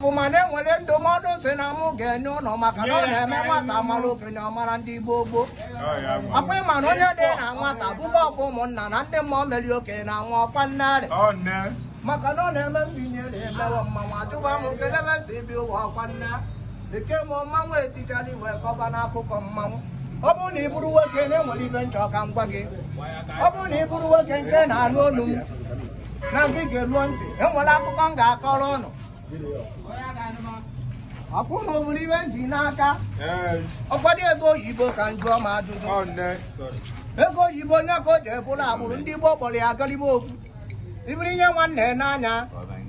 ọfụma na enwere ndụmọdụ ntị na mụ ga-enye ụnụ maka na ọ na-eme nwata mara okenye ọ mara ndị gboo gboo ọkwa ịma na onye dị na nwata buba ọfọ ụmụnna na ndị mmụọ meri okenye na nwa ọkwa nnarị maka na ọ na-eme mbinye na-emewe mmanwụ ajụwa m nkelebe si bi ụwa ọkwa nna eke m mmanwụ etichara wee kọba n'akụkọ mmanwụ ọ bụrụ na ị bụrụ nwoke na enwere ibe m chọ ka m gwa gị ọ bụrụ na ị bụrụ nwoke nke na-anụ olu m na gị geruo ntị enwere akụkọ m ga-akọrọ ụnụ akwụ na ọ bụrụ ibe m ji n'aka ọkwado ego oyibo ka m jụọ m ajụjụ ego oyibo onye ka o ji ebụrụ agbụrụ ndị Igbo kpọrọ ya agalibe okwu ibiri ihe nwanne n'anya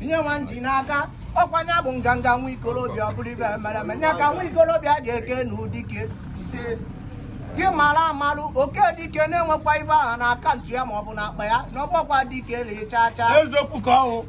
ihe nwa m ji n'aka ọkwa nya bụ nganga nwa ikorobịa ọ bụrụ ibe mere eme nya ka nwa ikorobịa ji eke na ụdike ise gị mara amarụ oke dike na enwekwa ibe aha na account ya maọbụ na akpa ya na ọgbọkwa dike na ịcha acha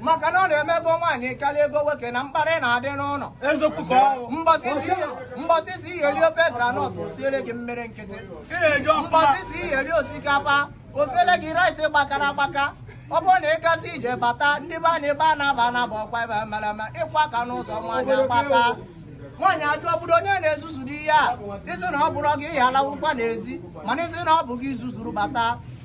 maka na ọ na-eme ego nwaanyị karịa ego nwoke na mkparị na-adị n'ụlọ Eziokwu ka ọ bụ. mbọsị ị sị ị ya-eri ofe groundnut o siere gị mmiri nkịtị Ị na-eji ọfụma. mbọsị ị sị ị ya-eri osikapa o siere gị rice gbakara agbaka ọ bụrụ na ị gasị ije bata ndị be anyị ebe a na-aba anaba ọkwa ebe mere eme ị kwaa aka n'ụzọ nwaanyị agbaka nwaanyị ajụ ọ bụdụ onye na-ezuzudu ihe a ị sị na ọ bụrọ gị ị ya-alawụkwa n'ezi mana ị sị na ọ bụ gị i zuzuru bata